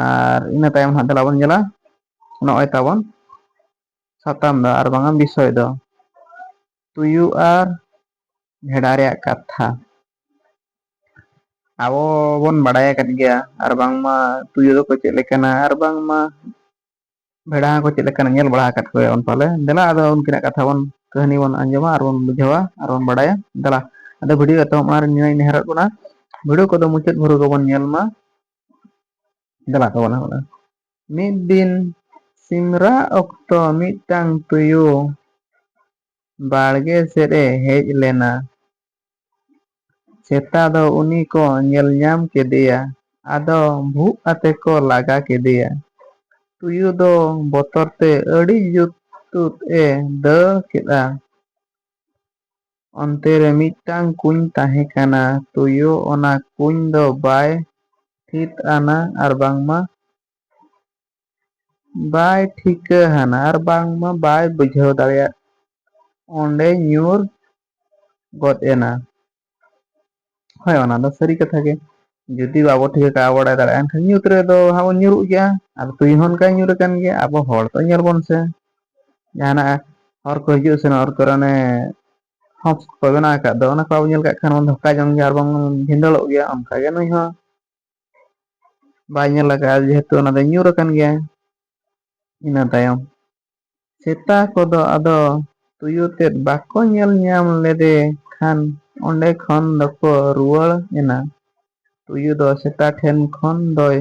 ᱟᱨ ᱤᱱᱟᱹ ᱛᱟᱭᱚᱢ ᱦᱟᱸᱜ ᱫᱮᱞᱟ ᱵᱚᱱ ᱧᱮᱞᱟ ᱱᱚᱜᱼᱚᱭ ᱛᱟᱵᱚᱱ ᱥᱟᱛᱟᱢ ᱫᱚ ᱟᱨ ᱵᱟᱝᱟ ᱵᱤᱥᱚᱭ ᱫᱚ ᱛᱩᱭᱩ ᱟᱨ ᱵᱷᱮᱰᱟ ᱨᱮᱭᱟᱜ ᱠᱟᱛᱷᱟ ᱟᱵᱚ ᱵᱚᱱ ᱵᱟᱲᱟᱭ ᱟᱠᱟᱫ ᱜᱮᱭᱟ ᱟᱨ ᱵᱟᱝᱢᱟ ᱛᱩᱭᱩ ᱫᱚᱠᱚ ᱪᱮᱫ ᱞᱮᱠᱟᱱᱟ ᱟᱨ ᱵᱟᱝᱢᱟ ᱵᱷᱮᱲᱟ ᱦᱚᱸᱠᱚ ᱪᱮᱫ ᱞᱮᱠᱟᱱ ᱧᱮᱞ ᱵᱟᱲᱟ ᱟᱠᱟᱫ ᱠᱚᱣᱟ ᱵᱚᱱ ᱯᱟᱞᱮ ᱫᱮᱞᱟ ᱟᱫᱚ ᱩᱱᱠᱤᱱᱟᱜ ᱠᱟᱛᱷᱟ ᱵᱚᱱ ᱠᱟᱹᱦᱱᱤ ᱵᱚᱱ ᱟᱸᱡᱚᱢᱟ ᱟᱨ ᱵᱚᱱ ᱵᱩᱡᱷᱟᱹᱣᱟ ᱟᱨ ᱵᱚᱱ ᱵᱟᱲᱟᱭᱟ ᱫᱮᱞᱟ ᱟᱫᱚ ᱵᱷᱤᱰᱭᱳ ᱮᱛᱚᱦᱚᱵ ᱢᱟᱲᱟᱝ ᱨᱮ ᱱᱤᱭᱟᱹ ᱜᱮᱧ ᱱᱮᱦᱚᱨᱚᱜ ᱠᱟᱱᱟ ᱵᱷᱤᱰᱤᱭᱳ ᱠᱚᱫᱚ ᱢᱩᱪᱟᱹᱫ ᱵᱷᱳᱨ ᱜᱮᱵᱚᱱ ᱧᱮᱞ ᱢᱟ ᱫᱮᱞᱟ ᱛᱟᱵᱚᱱ ᱦᱚᱸ ᱢᱤᱫ ᱫᱤᱱ ᱥᱤᱢ ᱨᱟᱜ ᱚᱠᱛᱚ ᱢᱤᱫᱴᱟᱝ ᱛᱩᱭᱩ ᱵᱟᱲᱜᱮ ᱥᱮᱫ ᱮ ᱦᱮᱡ ᱞᱮᱱᱟ ᱥᱮᱛᱟ ᱫᱚ ᱩᱱᱤ ᱠᱚ ᱧᱮᱞ ᱧᱟᱢ ᱠᱮᱫᱮᱭᱟ ᱟᱫᱚ ᱵᱷᱩᱜ ᱟᱛᱮ ᱠᱚ ᱞᱟᱜᱟ ᱠᱮᱫᱮᱭᱟ᱾ ᱛᱩᱭᱩ ᱫᱚ ᱵᱚᱛᱚᱨ ᱛᱮ ᱟᱹᱰᱤ ᱡᱩᱛ ᱛᱩᱫ ᱮ ᱫᱟᱹᱲ ᱠᱮᱫᱼᱟ᱾ ᱚᱱᱛᱮ ᱨᱮ ᱢᱤᱫᱴᱟᱹᱝ ᱠᱩᱧ ᱛᱟᱦᱮᱸ ᱠᱟᱱᱟ᱾ ᱛᱩᱭᱩ ᱚᱱᱟ ᱠᱩᱧ ᱫᱚ ᱵᱟᱭ ᱛᱷᱤᱛ ᱟᱱᱟ ᱟᱨ ᱵᱟᱝᱢᱟ ᱵᱟᱭ ᱴᱷᱤᱠᱟᱹ ᱦᱟᱱᱟ ᱟᱨ ᱵᱟᱝᱢᱟ ᱵᱟᱭ ᱵᱩᱡᱷᱟᱹᱣ ᱫᱟᱲᱮᱭᱟᱫ ᱚᱸᱰᱮ ᱧᱩᱨ ᱜᱚᱫ ᱮᱱᱟ᱾ ᱦᱳᱭ ᱚᱱᱟ ᱫᱚ ᱥᱟᱹᱨᱤ ᱠᱟᱛᱷᱟ ᱜᱮ᱾ ᱡᱩᱫᱤ ᱵᱟᱵᱚ ᱴᱷᱤᱠᱟᱹ ᱠᱟᱜᱼᱟ ᱵᱟᱲᱟᱭ ᱫᱟᱲᱮᱭᱟᱜᱼᱟ ᱮᱱᱠᱷᱟᱱ ᱧᱩᱛ ᱨᱮᱫᱚ ᱦᱟᱸᱜ ᱵᱚᱱ ᱧᱩᱨᱩᱜ ᱜᱮᱭᱟ᱾ ᱟᱨ ᱛᱩᱭᱩ ᱦᱚᱸ ᱚᱱᱠᱟᱭ ᱧᱩᱨ ᱟᱠᱟᱱ ᱜᱮᱭᱟ ᱟᱵᱚ ᱦᱚᱲ ᱫᱚ ᱧᱮᱞ ᱵᱚᱱ ᱥᱮ ᱡᱟᱦᱟᱱᱟᱜ ᱦᱚᱨ ᱠᱚ ᱦᱤᱡᱩᱜ ᱥᱮᱱᱚᱜ ᱦᱚᱨ ᱠᱚᱨᱮ ᱚᱱᱮ ᱦᱚᱠᱥ ᱠᱚ ᱵᱮᱱᱟᱣ ᱟᱠᱟᱫ ᱫᱚ ᱚᱱᱟ ᱠᱚ ᱵᱟᱵᱚᱱ ᱧᱮᱞ ᱠᱟᱜ ᱠᱷᱟᱱ ᱵᱚᱱ ᱫᱷᱚᱠᱟ ᱡᱚᱝ ᱜᱮᱭᱟ ᱟᱨ ᱵᱟᱝ ᱵᱷᱤᱸᱫᱟᱹᱲᱚᱜ ᱜᱮᱭᱟ ᱚᱱᱠᱟᱜᱮ ᱱᱩᱭ ᱦᱚᱸ ᱵᱟᱭ ᱧᱮᱞ ᱟᱠᱟᱫᱼᱟ ᱡᱮᱦᱮᱛᱩ ᱚᱱᱟ ᱫᱚ ᱧᱩᱨ ᱟᱠᱟᱱ ᱜᱮᱭᱟ ᱤᱱᱟᱹ ᱛᱟᱭᱚᱢ ᱥᱮᱛᱟ ᱠᱚᱫᱚ ᱟᱫᱚ ᱛᱩᱭᱩ ᱛᱮᱫ ᱵᱟᱠᱚ ᱧᱮᱞ ᱧᱟᱢ ᱞᱮᱫᱮ ᱠᱷᱟᱱ ᱚᱸᱰᱮ ᱠᱷᱚᱱ ᱫᱚᱠᱚ ᱨᱩᱣᱟᱹᱲ ᱮᱱᱟ ᱛᱩᱭᱩ ᱫᱚ ᱥᱮᱛᱟ ᱴᱷᱮᱱ ᱠᱷᱚᱱ ᱫᱚᱭ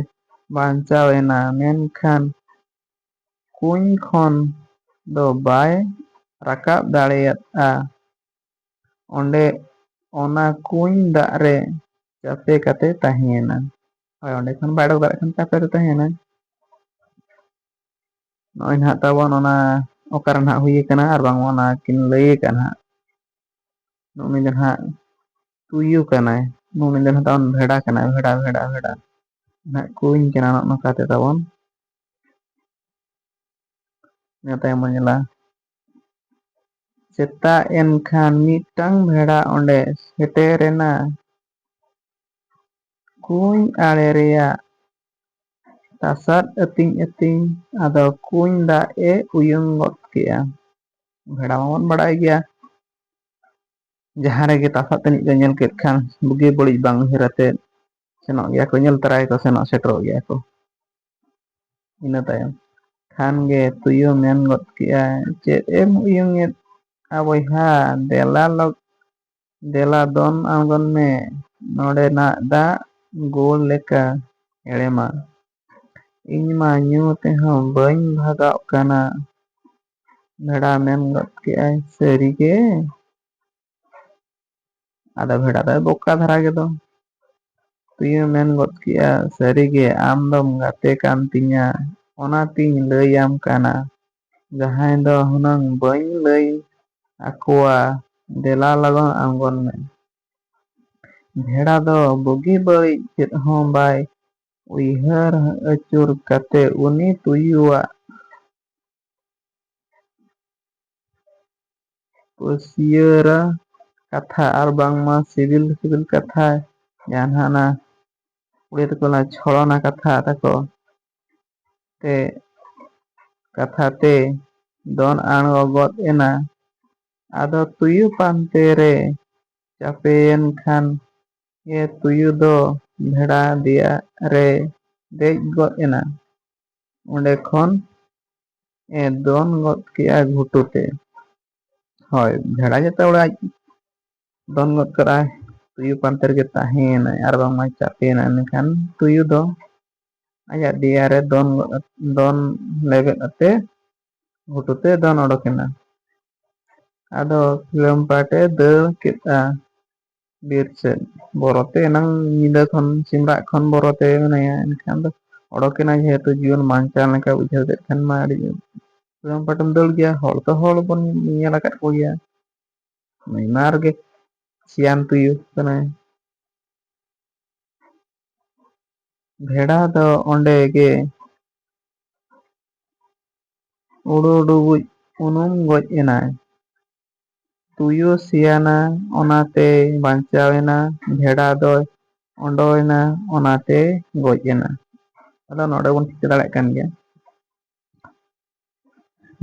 ᱵᱟᱧᱪᱟᱣ ᱮᱱᱟ ᱢᱮᱱᱠᱷᱟᱱ ᱠᱩᱧ ᱠᱷᱚᱱ ᱫᱚ ᱵᱟᱭ ᱨᱟᱠᱟᱵ ᱫᱟᱲᱮᱭᱟᱫᱼᱟ ᱚᱸᱰᱮ ᱚᱱᱟ ᱠᱩᱧ ᱫᱟᱜ ᱨᱮ ᱪᱟᱯᱮ ᱠᱟᱛᱮ ᱛᱟᱦᱮᱸᱭᱮᱱᱟ ᱦᱳᱭ ᱚᱸᱰᱮ ᱠᱷᱚᱱ ᱵᱟᱭ ᱚᱰᱚᱠ ᱫᱟᱲᱮᱭᱟᱜ ᱠᱷᱟᱱ ᱪᱟᱯᱮ ᱨᱮ ᱛᱟᱦᱮᱸᱭᱮᱱᱟ ᱱᱚᱜᱼᱚᱭ ᱱᱟᱦᱟᱜ ᱛᱟᱵᱚᱱ ᱚᱱᱟ ᱚᱠᱟᱨᱮ ᱱᱟᱦᱟᱜ ᱦᱩᱭ ᱟᱠᱟᱱᱟ ᱟᱨ ᱵᱟᱝ ᱚᱱᱟ ᱠᱤᱱ ᱞᱟᱹᱭ ᱟᱠᱟᱫ ᱱᱟᱦᱟᱜ ᱩᱱᱤ ᱫᱚ ᱱᱟᱦᱟᱜ ᱛᱩᱭᱩ ᱠᱟᱱᱟᱭ ᱩᱱᱤ ᱫᱚ ᱱᱟᱦᱟᱜ ᱛᱟᱵᱚᱱ ᱵᱷᱮᱰᱟ ᱠᱟᱱᱟᱭ ᱵᱷᱮᱰᱟ ᱵᱷᱮᱰᱟ ᱵᱷᱮᱰᱟ ᱱᱟᱦᱟᱜ ᱠᱩᱧ ᱠᱟᱱᱟ ᱱᱚᱜᱼᱚ ᱱᱚᱝᱠᱟᱛᱮ ᱛᱟᱵᱚᱱ ᱤᱱᱟᱹ ᱛᱟᱭᱚᱢ ᱵᱚᱱ ᱧᱮᱞᱟ ᱥᱮᱛᱟᱜ ᱮᱱ ᱠᱷᱟᱱ ᱢᱤᱫᱴᱟᱹᱝ ᱵᱷᱮᱲᱟ ᱚᱱᱰᱮ ᱥᱮᱴᱮᱨ ᱮᱱᱟ᱾ ᱠᱩᱧ ᱟᱲᱮ ᱨᱮᱭᱟᱜ ᱛᱟᱥᱟᱫ ᱟᱹᱛᱤᱧ ᱟᱹᱛᱤᱧ ᱟᱫᱚ ᱠᱩᱧ ᱫᱟᱜ ᱮ ᱩᱭᱩᱝ ᱜᱚᱫ ᱠᱮᱫᱼᱟ᱾ ᱵᱷᱮᱲᱟ ᱢᱟᱵᱚᱱ ᱵᱟᱰᱟᱭ ᱜᱮᱭᱟ ᱡᱟᱦᱟᱸ ᱨᱮᱜᱮ ᱛᱟᱥᱟᱫ ᱛᱟᱹᱱᱤᱡ ᱠᱚ ᱧᱮᱞ ᱠᱮᱫ ᱠᱷᱟᱱ ᱵᱩᱜᱤ ᱵᱟᱹᱲᱤᱡ ᱵᱟᱝ ᱩᱭᱦᱟᱹᱨ ᱟᱛᱮ ᱥᱮᱱᱚᱜ ᱜᱮᱭᱟ ᱠᱚ ᱧᱮᱞ ᱛᱚᱨᱟᱭᱟ ᱠᱚ ᱥᱮᱱᱚᱜ ᱥᱮᱴᱮᱨᱚᱜ ᱜᱮᱭᱟ ᱠᱚ᱾ ᱤᱱᱟᱹ ᱛᱟᱭᱚᱢ ᱠᱷᱟᱱ ᱜᱮ ᱛᱩᱭᱩ ᱢᱮᱱ ᱜᱚᱫ ᱠᱮᱜᱼᱟ ᱪᱮᱫ ᱮᱢ ᱩᱭᱩᱝᱮᱫ ᱟ ᱵᱚᱭᱦᱟ ᱫᱮᱞᱟ ᱞᱚᱜ ᱫᱮᱞᱟ ᱫᱚᱱ ᱟᱬᱜᱚᱱ ᱢᱮ ᱱᱚᱰᱮᱱᱟᱜ ᱫᱟᱜ ᱜᱩᱲ ᱞᱮᱠᱟ ᱦᱮᱲᱮᱢᱟ ᱤᱧ ᱢᱟ ᱧᱩ ᱛᱮᱦᱚᱸ ᱵᱟᱹᱧ ᱵᱷᱟᱜᱟᱜ ᱠᱟᱱᱟ ᱵᱷᱮᱲᱟ ᱢᱮᱱ ᱜᱚᱫ ᱠᱮᱜᱼᱟᱭ ᱥᱟᱹᱨᱤ ᱜᱮ ᱟᱫᱚ ᱵᱷᱮᱰᱟ ᱫᱚᱭ ᱵᱚᱠᱟ ᱫᱷᱟᱨᱟ ᱜᱮᱫᱚ ᱛᱩᱭᱩ ᱢᱮᱱ ᱜᱚᱫ ᱠᱮᱫᱼᱟ ᱥᱟᱹᱨᱤᱜᱮ ᱟᱢ ᱫᱚᱢ ᱜᱟᱛᱮ ᱠᱟᱱ ᱛᱤᱧᱟᱹ ᱚᱱᱟᱛᱤᱧ ᱞᱟᱹᱭᱟᱢ ᱠᱟᱱᱟ ᱡᱟᱦᱟᱸᱭ ᱫᱚ ᱦᱩᱱᱟᱹᱝ ᱵᱟᱹᱧ ᱞᱟᱹᱭ ᱟᱠᱚᱣᱟ ᱫᱮᱞᱟ ᱞᱚᱜᱚᱱ ᱟᱬᱜᱚᱱ ᱢᱮ ᱵᱷᱮᱲᱟ ᱫᱚ ᱵᱩᱜᱤ ᱵᱟᱹᱲᱤᱡ ᱪᱮᱫ ᱦᱚᱸ ᱵᱟᱭ ᱩᱭᱦᱟᱹᱨ ᱟᱹᱪᱩᱨ ᱠᱟᱛᱮ ᱩᱱᱤ ᱛᱩᱭᱩᱣᱟᱜ ᱯᱟᱹᱥᱭᱟᱹᱨᱟ ᱠᱟᱛᱷᱟ ᱟᱨ ᱵᱟᱝᱢᱟ ᱥᱤᱵᱤᱞ ᱥᱤᱵᱤᱞ ᱠᱟᱛᱷᱟ ᱡᱟᱦᱟᱸ ᱱᱟᱦᱟᱜ ᱚᱱᱟ ᱠᱩᱲᱤ ᱛᱟᱠᱚ ᱚᱱᱟ ᱪᱷᱚᱲᱚᱱᱟ ᱠᱟᱛᱷᱟ ᱛᱟᱠᱚ ᱛᱮ ᱠᱟᱛᱷᱟ ᱛᱮ ᱫᱚᱱ ᱟᱬᱜᱚ ᱜᱚᱫ ᱮᱱᱟ ᱟᱫᱚ ᱛᱩᱭᱩ ᱯᱟᱱᱛᱮ ᱨᱮ ᱪᱟᱯᱮᱭᱮᱱ ᱠᱷᱟᱱ ᱜᱮ ᱛᱩᱭᱩ ᱫᱚ ᱵᱷᱮᱲᱟ ᱫᱮᱭᱟ ᱨᱮᱭ ᱫᱮᱡ ᱜᱚᱫ ᱮᱱᱟ᱾ ᱚᱸᱰᱮ ᱠᱷᱚᱱ ᱮ ᱫᱚᱱ ᱜᱚᱫ ᱠᱮᱜᱼᱟ ᱜᱷᱩᱴᱩ ᱛᱮ ᱦᱳᱭ ᱵᱷᱮᱲᱟ ᱡᱟᱛᱮ ᱚᱲᱟᱜ ᱟᱡ ᱫᱚᱱ ᱜᱚᱫ ᱠᱟᱜᱼᱟᱭ ᱛᱩᱭᱩ ᱯᱟᱱᱛᱮ ᱨᱮᱜᱮ ᱛᱟᱦᱮᱸᱭᱮᱱᱟᱭ ᱟᱨ ᱵᱟᱝᱢᱟᱭ ᱪᱟᱯᱮᱭᱮᱱᱟᱭ ᱢᱮᱱᱠᱷᱟᱱ ᱛᱩᱭᱩ ᱫᱚ ᱟᱡᱟᱜ ᱫᱮᱭᱟ ᱨᱮ ᱫᱚᱱ ᱜᱚᱫ ᱟᱛ- ᱫᱚᱱ ᱞᱮᱵᱮᱫ ᱟᱛᱮ ᱜᱷᱩᱴᱩ ᱛᱮ ᱫᱚᱱ ᱚᱰᱚᱠᱮᱱᱟ ᱟᱫᱚ ᱥᱤᱞᱚᱢ ᱯᱟᱴᱮ ᱫᱟᱹᱲ ᱠᱮᱫᱼᱟ ᱵᱤᱨ ᱥᱮᱫ ᱵᱚᱨᱚᱛᱮ ᱮᱱᱟᱝ ᱧᱤᱫᱟᱹ ᱠᱷᱚᱱ ᱥᱤᱢ ᱨᱟᱜ ᱠᱷᱚᱱ ᱵᱚᱨᱚᱛᱮ ᱢᱮᱱᱟᱭᱟ ᱮᱱᱠᱷᱟᱱ ᱫᱚ ᱚᱰᱚᱠ ᱮᱱᱟᱭ ᱡᱮᱦᱮᱛᱩ ᱡᱤᱭᱚᱱ ᱵᱟᱧᱪᱟᱣ ᱞᱮᱠᱟ ᱵᱩᱡᱷᱟᱹᱣ ᱠᱮᱫ ᱠᱷᱟᱱ ᱢᱟ ᱟᱹᱰᱤ ᱥᱟᱫᱚᱢ ᱯᱟᱴᱚᱢ ᱫᱟᱹᱲ ᱜᱮᱭᱟ ᱦᱚᱲ ᱛᱚ ᱦᱚᱲ ᱵᱚᱱ ᱧᱮᱞ ᱟᱠᱟᱫ ᱠᱚ ᱜᱮᱭᱟ ᱱᱩᱭ ᱢᱟ ᱟᱨ ᱜᱮ ᱥᱮᱭᱟᱱ ᱛᱩᱭᱩ ᱠᱟᱱᱟᱭ ᱵᱷᱮᱰᱟ ᱫᱚ ᱚᱸᱰᱮ ᱜᱮ ᱩᱰᱩᱰᱩᱵᱩᱡ ᱩᱱᱩᱢ ᱜᱚᱡ ᱮᱱᱟᱭ ᱛᱩᱭᱩ ᱥᱮᱭᱟᱱᱟ ᱚᱱᱟᱛᱮᱭ ᱵᱟᱧᱪᱟᱣ ᱮᱱᱟ ᱵᱷᱮᱰᱟ ᱫᱚᱭ ᱚᱸᱰᱚᱭᱮᱱᱟ ᱚᱱᱟᱛᱮᱭ ᱜᱚᱡ ᱮᱱᱟ ᱟᱫᱚ ᱱᱚᱰᱮ ᱵᱚᱱ ᱴᱷᱤᱠᱟᱹ ᱫᱟᱲᱮᱭᱟᱜ ᱠᱟᱱ ᱜᱮᱭᱟ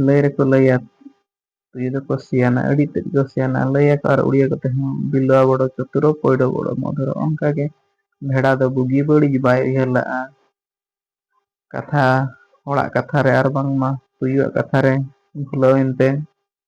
ᱞᱟᱹᱭ ᱨᱮᱠᱚ ᱞᱟᱹᱭᱟ ᱛᱩᱭᱩ ᱫᱚᱠᱚ ᱥᱮᱭᱟᱱᱟ ᱟᱹᱰᱤ ᱛᱮᱫ ᱠᱚ ᱥᱮᱭᱟᱱᱟ ᱞᱟᱹᱭᱟᱠᱚ ᱟᱨ ᱩᱲᱤᱭᱟᱹ ᱠᱚᱛᱮ ᱦᱚᱸ ᱵᱤᱞᱣᱟ ᱵᱚᱲᱚ ᱪᱚᱛᱩᱨᱚ ᱯᱚᱭᱰᱚ ᱵᱚᱲᱚ ᱢᱚᱫᱷᱩᱨᱚ ᱚᱱᱠᱟᱜᱮ ᱵᱷᱮᱰᱟ ᱫᱚ ᱵᱩᱜᱤ ᱵᱟᱹᱲᱤᱡ ᱵᱟᱭ ᱩᱭᱦᱟᱹᱨ ᱞᱟᱜᱼᱟ ᱠᱟᱛᱷᱟ ᱦᱚᱲᱟᱜ ᱠᱟᱛᱷᱟ ᱨᱮ ᱟᱨ ᱵᱟᱝᱢᱟ ᱛᱩᱭᱩᱣᱟᱜ ᱠᱟᱛᱷᱟ ᱨᱮ ᱵᱷᱩᱞᱟᱹᱣᱮᱱ ᱛᱮ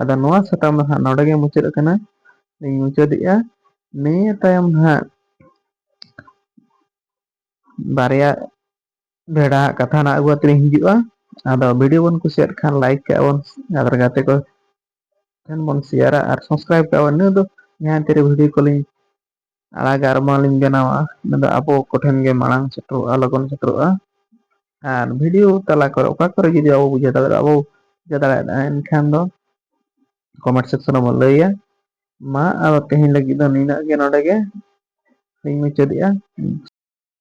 ᱟᱫᱚ ᱱᱚᱣᱟ ᱥᱟᱛᱟᱢ ᱫᱚ ᱦᱟᱸᱜ ᱱᱚᱰᱮ ᱜᱮ ᱢᱩᱪᱟᱹᱫ ᱟᱠᱟᱱᱟ ᱤᱧ ᱢᱩᱪᱟᱹᱫᱮᱜᱼᱟ ᱱᱤᱭᱟᱹ ᱛᱟᱭᱚᱢ ᱦᱟᱸᱜ ᱵᱟᱨᱭᱟ ᱵᱷᱮᱲᱟ ᱦᱟᱜ ᱠᱟᱛᱷᱟ ᱱᱟᱜ ᱟᱹᱜᱩ ᱟᱛᱮ ᱞᱤᱧ ᱦᱤᱡᱩᱜᱼᱟ ᱟᱫᱚ ᱵᱷᱤᱰᱭᱳ ᱵᱚᱱ ᱠᱩᱥᱤᱭᱟᱜ ᱠᱷᱟᱱ ᱞᱟᱭᱤᱠ ᱠᱟᱜᱼᱟ ᱵᱚᱱ ᱟᱨ ᱜᱟᱛᱮ ᱠᱚ ᱴᱷᱮᱱ ᱵᱚᱱ ᱥᱮᱭᱟᱨᱟ ᱟᱨ ᱥᱟᱥᱠᱨᱟᱭᱤᱵ ᱠᱟᱜᱼᱟ ᱵᱚᱱ ᱤᱱᱟᱹ ᱫᱚ ᱡᱟᱦᱟᱸ ᱛᱤᱨᱮ ᱵᱷᱤᱰᱭᱳ ᱠᱚᱞᱤᱧ ᱟᱲᱟᱜᱟ ᱟᱨ ᱵᱟᱝ ᱞᱤᱧ ᱵᱮᱱᱟᱣᱟ ᱚᱱᱟ ᱫᱚ ᱟᱵᱚ ᱠᱚᱴᱷᱮᱱ ᱜᱮ ᱢᱟᱲᱟᱝ ᱥᱮᱴᱮᱨᱚᱜᱼᱟ ᱞᱚᱜᱚᱱ ᱥᱮᱴᱮᱨᱚᱜᱼᱟ ᱟᱨ ᱵᱷᱤᱰᱤᱭᱳ ᱛᱟᱞᱟ ᱠᱚᱨᱮ ᱚᱠᱟ ᱠᱚᱨᱮ ᱡᱩᱫᱤ ᱟᱵᱚ ᱵᱩᱡᱷᱟᱹᱣ ᱫᱟᱲᱮᱭᱟᱜᱼᱟ ᱟᱵᱚ ᱵᱩᱡᱷᱟᱹᱣ ᱫᱟᱲᱮᱭᱟᱜᱼᱟ ᱮᱱᱠᱷᱟᱱ ᱫᱚ ᱠᱚᱢᱮᱱᱴ ᱥᱮᱠᱥᱚᱱ ᱨᱮᱵᱚᱱ ᱞᱟᱹᱭᱟ ᱢᱟ ᱟᱫᱚ ᱛᱮᱦᱮᱧ ᱞᱟᱹᱜᱤᱫ ᱫᱚ ᱱᱤᱱᱟᱹᱜ ᱜᱮ ᱱᱚᱰᱮ ᱜᱮ ᱤᱧ ᱢᱩᱪᱟᱹᱫᱮᱜᱼᱟ